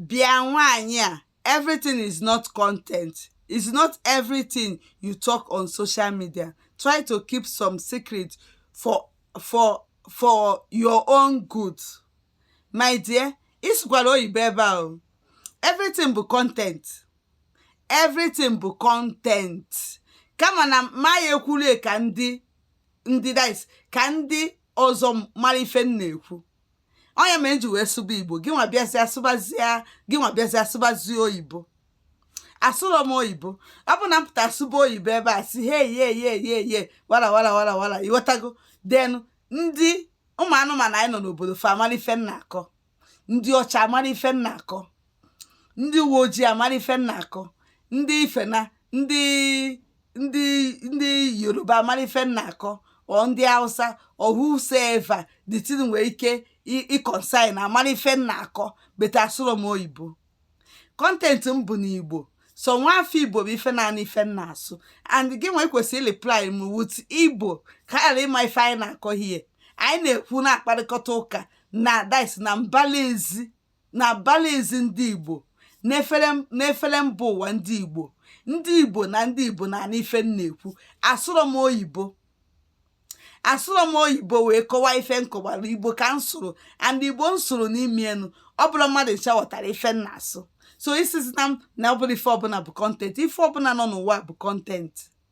bịa nwaanyị a everything is not content is not everything you talk on social media try to keep some secret for for for your own good my dear ị sụkwara oyibo ebe a o everything bụ content everything bụ content kama na ma ya ekwuru ka ndị ndị dis ka ndị ọzọ mara ife m na-ekwu ọ ya me m ji wee sụba igbo gị nwa bịazịa sụbazie gị nwa bịazịa sụbazie oyibo asụrọ m oyibo ọ bụ na m pụta sụba oyibo ebe a sị he ye ye ye ye wara wara wara wara ị ghọtago then ndị ụmụ anụmanụ anyị nọ n'obodo fa amara ife m na-akọ ndị ọcha amara ife m na-akọ ndị uwe ojii amara ife m na-akọ ndị ifena ndị ndị ndị yoruba amara ife m na-akọ or ndị hausa or whosoever the thing nwere ike ị concern amara ife m na-akọ but asụrọ m oyibo content m bụ n'igbo so nwa afọ igbo bụ ife naanị ife m na-asụ and gị nwa kwesịrị reply m with igbo ka ghara ịma ife anyị na-akọ hie anyị na-ekwu na-akparịkọta ụka na dis na mbala ezi na mbala ezi ndị igbo n'efere mba ụwa ndị igbo ndị igbo na ndị igbo na-anụ ife m na-ekwu asụrọ m oyibo asụrọ m oyibo wee kọwaa ife m kọwara igbo ka m sụrụ and igbo m sụrụ n'ime enu ọ bụla mmadụ ncha ghọtara ife m na-asụ so ị sịzịna m na ọ bụrọ ife ọbụla bụ content ife ọbụla nọ n'ụwa bụ content